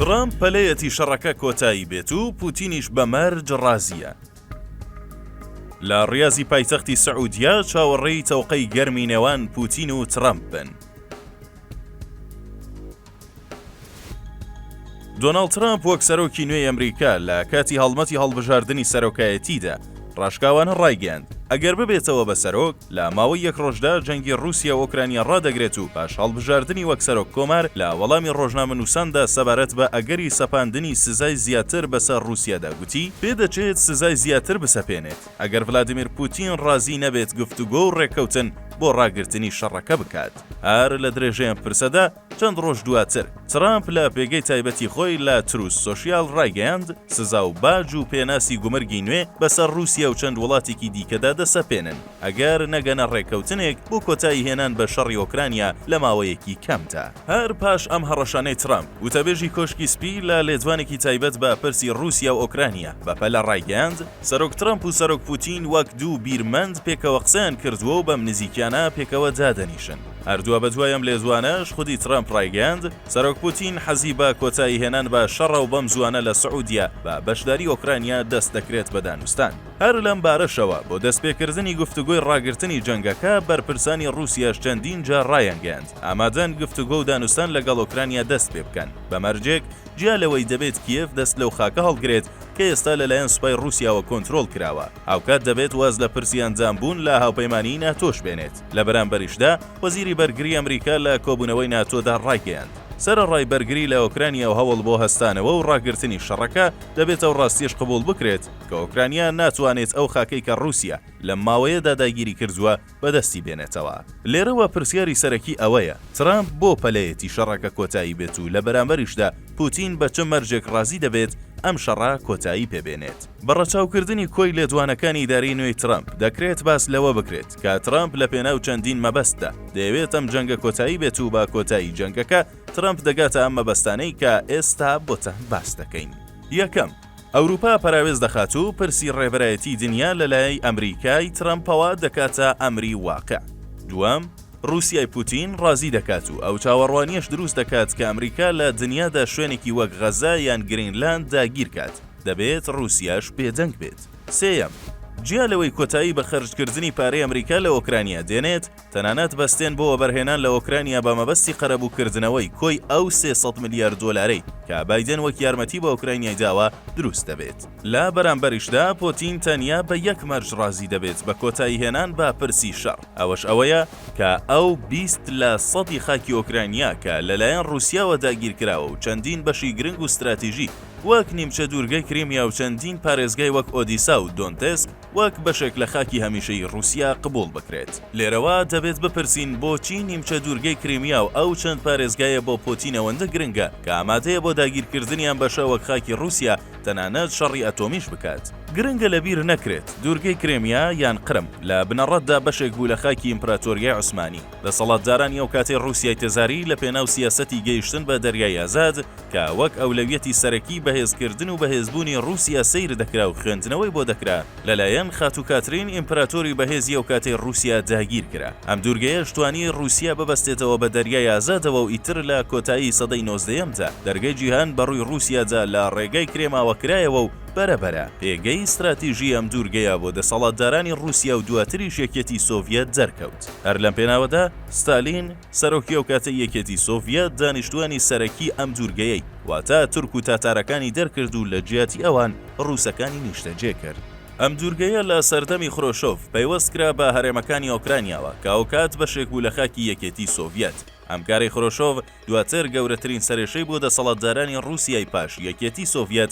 ترەمپ پەلەیەتی شەڕەکە کۆتایی بێت و پوتینیش بە مەرج ڕازیە. لە ڕاضی پایتەختی سعودیە چاوەڕێی تەوقەی گەرمی نێوان پوتین و ترەمپ بن. دۆناڵد ترەمپ وەک سەرۆکی نوێی ئەمریکا لە کاتی هەڵمەتی هەڵبژاردنی سەرۆکایەتیدا ڕاشکاوانە ڕایگەیاند، ئەگەر ببێتەوە بە سەرۆک، لە ماوەی یەک ڕۆژدا جەنگی ڕووسیا و ئۆکرانیا ڕادەگرێت و پاش هەڵبژاردنی وەک سەرۆک کۆمار لە وەڵامی ڕۆژنامەنووساندا سەبارەت بە ئەگەری سەپاندنی سزای زیاتر بەسەر ڕووسیادا گوتی، پێدەچێت سزای زیاتر بسەپێنێت. ئەگەر ڤلادیمیر پوتین ڕازی نەبێت گفتوگۆ و ڕێککەوتن بۆ ڕاگرتنی شەڕەکە بکات. هەر لە درێژەی ئەم پرسەدا، چەند ڕۆژ دواتر، ترامپ لە پێگەی تایبەتی خۆی لە تروس سۆشیال ڕایگەیاند، سزا و باج و پێناسی گومرگی نوێ بەسەر ڕووسیا و چەند وڵاتێکی دیکەدا دەسەپێنن، ئەگەر نەگەنە ڕێککەوتنێک بۆ کۆتاییهێنان بە شەڕی ئۆکرانیا لە ماوەیەکی کەمدا. هەر پاش ئەم هەڕەشانەی ترەمپ، وتەبێژی کۆشکی سپی لە لێدوانێکی تایبەت بە پرسی ڕووسیا و ئۆکرانیا بەپەلە ڕایگەیاند، سەرۆک ترەمپ و سەرۆک پوتین وەک دوو بیرمەند پێکەوە قسەیان کردووە و بەم نزیکیانە پێکەوە دادەنیشن. هەر دوابەدوای ئەم لێدوانەش خودی ترەمپ ڕایگەیاند، سەرۆک پوتین حەزی بە کۆتاییهێنان بە شەڕە و بەم زووانە لە سعودیە بە بەشداری ئۆکرانیا دەست دەکرێت بە دانوستان. هەر لەم بارەشەوە بۆ دەستپێکردنی گفتوگۆی ڕاگرتنی جەنگەکە، بەرپرسانی ڕووسیاش چەندین جار ڕایانگەیاند، ئامادەن گفتوگۆ و دانوستان لەگەڵ ئۆکرانیا دەست پێ بکەن، بە مەرجێک جیا لەوەی دەبێت کیێڤ دەست لەو خاکە هەڵگرێت کە ئێستا لەلایەن سوپای ڕووسیاوە کۆنترۆڵ کراوە، هاوکات دەبێت واز لە پرسی ئەندامبوون لە هاوپەیمانیی ناتۆش بێنێت، لە بەرامبەریشدا وەزیری بەرگری ئەمریکا لە کۆبوونەوەی ناتۆدا ڕایگەیاند، سەرەڕای بەرگری لە ئۆکرانیا و هەوڵ بۆ هەستانەوە و ڕاگرتنی شەڕەکە، دەبێت ئەو ڕاستیەش قبوڵ بکرێت، کە ئۆکرانیا ناتوانێت ئەو خاکەی کە ڕووسیا لەم ماوەیەدا داگیری کردووە بەدەستی بێنێتەوە. لێرەوە پرسیاری سەرەکی ئەوەیە ترامپ بۆ پەلەیەتی شەڕەکە کۆتایی بێت و لە بەرامبەریشدا پوتین بە چ مەرجێک ڕازی دەبێت ئەم شەڕە کۆتایی پێ بێنێت؟ بە ڕەچاوکردنی کۆی لێدوانەکانی ئیدارەی نوێی ترامپ دەکرێت باس لەوە بکرێت کە ترامپ لە پێناو چەندین مەبەستدا دەیەوێت ئەم جەنگە کۆتایی بێت و بە کۆتایی جەنگەکە ترامپ دەگاتە ئەم مەبەستانەی کە ئێستا بۆتان باس دەکەین. یەکەم. ئەوروپا پەراوێز دەخات و پرسی ڕێبەرایەتی دنیا لە لایەی ئەمریکای ترەمپەوە دەکاتە ئەمری واقع. دووەم، ڕوسیای پوتین ڕازی دەکات و ئەو چاوەڕوانیەش دروست دەکات کە ئەمریکا لە دنیادا شوێنێکی وەک غەزە یان گرینلاند داگیر کات، دەبێت ڕوسیاش بێدەنگ بێت. سێیەم، جیا لەوەی کۆتایی بە خەرجکردنی پارەی ئەمریکا لە ئۆکرانیا دێنێت، تەنانەت بەستێن بۆ وەبەرهێنان لە ئۆکرانیا بە مەبەستی قەرەبووکردنەوەی کۆی ئەو سێ سەد ملیار دۆلارەی کە بایدێن وەک یارمەتی بە ئۆکرانیای داوە دروست دەبێت. لە بەرامبەریشدا پۆتین تەنیا بە یەک مەرج ڕازی دەبێت بە کۆتایی هێنان بە پرسی شەڕ ئەوەش ئەوەیە کە ئەو بیست لە سەدی خاکی ئۆکرانیا کە لەلایەن ڕووسیاوە داگیرکراوە و چەندین بەشی گرنگ و ستراتیژی وەک نیمچە دوورگەی کریمیا و چەندین پارێزگای وەک ئۆدیسا و دۆنتێسک وەک بەشێک لە خاکی هەمیشەیی ڕووسیا قبووڵ بکرێت. لێرەوە دەبێت بپرسین بۆچی نیمچە دوورگەی کریمیا و ئەو چەند پارێزگایە بۆ پۆتین ئەوەندە گرنگە کە ئامادەیە بۆ داگیرکردنی ئەم بەشە وەک خاکی ڕووسیا تەنانەت شەڕی ئەتۆمیش بکات؟ گرنگە لەبیر نەکرێت دوورگەی کرێمیا یان قرم لە بنەڕەتدا بەشێک بوو لە خاکی ئیمپراتۆریای عوسمانی، دەسەڵاتدارانی ئەو کاتەی ڕووسیای تزاری لە پێناو سیاسەتی گەیشتن بە دەریای ئازاد کە وەک ئەولەویەتی سەرەکی بەهێزکردن و بەهێزبوونی ڕووسیا سەیر دەکرا و خوێندنەوەی بۆ دەکرا لەلایەن خاتوو کاترین ئیمپراتۆری بەهێزی ئەو کاتەی ڕووسیا داگیر کرا ئەم دوورگەیەش توانی ڕووسیا ببەستێتەوە بە دەریای ئازادەوە و ئیتر لە کۆتایی سەدەی نۆزدەیەمدا دەرگەی جیهان بە ڕووی ڕووسیادا لە ڕێگای کرێماوە کرایەوە و بەرە بەرە پێگەی ستراتیژی ئەم دوورگەیە بۆ دەسەڵاتدارانی ڕووسیا و دواتریش یەکیەتی سۆڤیەت دەرکەوت. هەر لەم پێناوەدا ستالین، سەرۆکی ئەوکاتەی یەکێتی سۆڤیەت دانیشتووانی سەرەکی ئەم دوورگەیەی واتە تورک و تاتارەکانی دەرکرد و لە جیاتی ئەوان ڕووسەکانی نیشتەجێ کرد. ئەم دوورگەیە لە سەردەمی خرۆشۆڤ پەیوەست کرا بە هەرێمەکانی ئۆکرانیاوە کە ئەوکات بەشێک بوو لە خاکی یەکێتی سۆڤیەت. ئەم کارەی خرۆشۆڤ دواتر گەورەترین سەرێشەی بۆ دەسەڵاتدارانی ڕووسیای پاش یەکێتی سۆڤیەت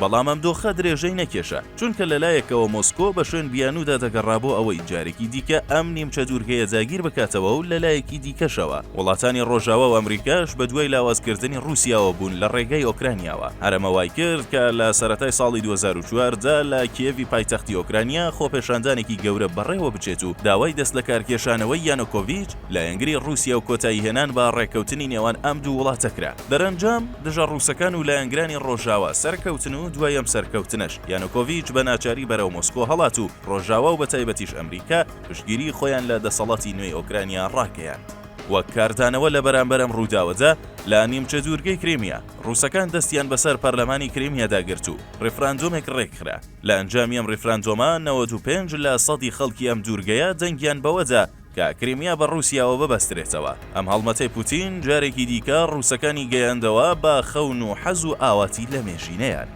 بەڵام ئەم دۆخە درێژەی نەکێشا، چونکە لە لایەکەوە مۆسکۆ بە شوێن بیانوودا دەگەڕا بۆ ئەوەی جارێکی دیکە ئەم نیمچە دوورگەیە داگیر بکاتەوە و لە لایەکی دیکەشەوە وڵاتانی ڕۆژاوا و ئەمریکاش بە دوای لاوازکردنی ڕووسیاوە بوون لە ڕێگای ئۆکرانیاوە. هەرەمە وای کرد کە لە سەرەتای ساڵی دوو هەزار و چواردە لە کیێڤی پایتەختی ئۆکرانیا خۆپێشاندانێکی گەورە بەڕێوە بچێت و داوای دەستلەکارکێشانەوەی یانۆکۆڤیچ لایەنگری ڕووسیا و کۆتاییهێنان بە ڕێککەوتنی نێوان ئەم دوو وڵاتە کرا. دەرەنجام، دژە ڕووسەکان و لایەنگرانی ڕۆژاوا سەرکەوتن و دوای ئەم سەرکەوتنەش، یانۆکۆڤیچ بە ناچاری بەرەو مۆسکۆ هەڵات و ڕۆژاوا و بەتایبەتیش ئەمریکا پشتگیریی خۆیان لە دەسەڵاتی نوێی ئۆکرانیا ڕاگەیاند. وەک کاردانەوە لە بەرامبەر ئەم ڕووداوەدا، لە نیمچە دوورگەی کریمیا، ڕووسەکان دەستیان بەسەر پەرلەمانی کریمیادا گرت و ڕیفراندۆمێک ڕێکخرا. لە ئەنجامی ئەم ڕیفراندۆمە، نەوەد و پێنج لە سەدی خەڵکی ئەم دوورگەیە دەنگیان بەوەدا، کە کریمیا بە ڕووسیاوە ببەسترێتەوە. ئەم هەڵمەتەی پوتین جارێکی دیکە ڕووسەکانی گەیاندەوە بە خەون و حەز و ئاواتی لەمێژینەیان.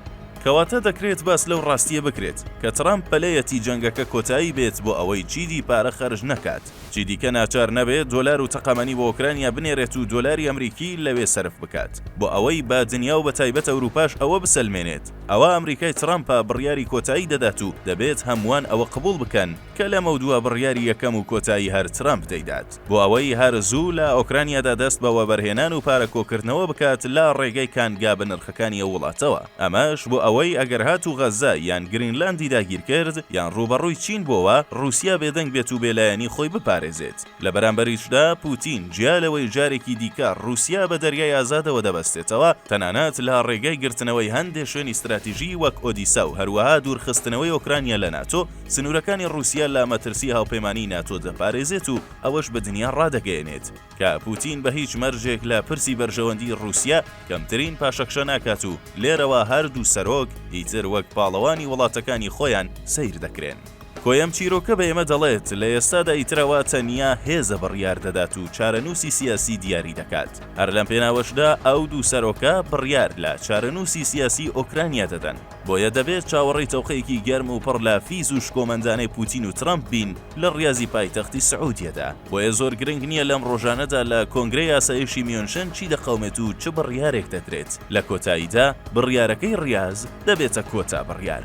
کەواتە دەکرێت باس لەو ڕاستییە بکرێت، کە ترامپ پەلەیەتی جەنگەکە کۆتایی بێت بۆ ئەوەی چیدی پارە خەرج نەکات، چیدیکە ناچار نەبێت دۆلار و تەقەمەنی بۆ ئۆکرانیا بنێرێت و دۆلاری ئەمریکی لەوێ سەرف بکات، بۆ ئەوەی بە دنیا و بەتایبەت ئەوروپاش ئەوە بسەلمێنێت ئەوە ئەمریکای ترامپە بڕیاری کۆتایی دەدات و دەبێت هەمووان ئەوە قبوڵ بکەن، کە لەمەودوا بڕیاری یەکەم و کۆتایی هەر ترەمپ دەیدات بۆ ئەوەی هەر زوو لە ئۆکرانیادا دەست بە وەبەرهێنان و پارە کۆکردنەوە بکات لە ڕێگەی کانگا بەنرخەکانی ئەو وڵاتەوە ئەمەش بۆ ئەوەی ئەگەر هاتوو غەزە یان گرینلاندی داگیرکرد یان ڕووبەڕووی چین بۆوە ڕووسیا بێدەنگ بێت و بێلایەنی خۆی بپارێزێت لە بەرامبەریشدا پوتین جیا لەوەی جارێکی دیکە ڕووسیا بە دەریای ئازادەوە دەبەستێتەوە تەنانەت لە ڕێگەی گرتنەوەی هەندێ شوێنی ستراتیژی وەک ئۆدیسا و هەروەها دوورخستنەوەی ئۆکرانیا لە ناتۆ سنوورەکانی ڕووسیا لە مەترسی هاوپەیمانیی ناتۆ دەپارێزێت و ئەوەش بە دنیا ڕادەگەیەنێت کە پووتین بە هیچ مەرجێک لە پرسی بەرژەوەندیی ڕووسیا کەمترین پاشەکشە ناکات و لێرەوە هەر دوو سەرۆک ئیتر وەک پاڵەوانی وڵاتەکانی خۆیان سەیر دەکرێن. کۆی ئەم چیرۆکە بە ئێمە دەڵێت، لە ئێستادا ئیتر ئەوە تەنیا هێزە بڕیار دەدات و چارەنووسی سیاسی دیاری دەکات. هەر لەم پێناوەشدا ئەو دوو سەرۆکە بڕیار لە چارەنووسی سیاسیی ئۆکرانیا دەدەن. بۆیە دەبێت چاوەڕێی تەوقەیەکی گەرم و پڕ لە فیز و شکۆمەندانەی پوتین و ترەمپ بین لە ڕیازی پایتەختی سعودیەدا، بۆیە زۆر گرنگ نییە لەم ڕۆژانەدا لە کۆنگرەی ئاسایشی میونشن چی دەقەومێت و چ بڕیارێک دەدرێت، لە کۆتاییدا بڕیارەکەی ڕیاز دەبێتە کۆتا بڕیار.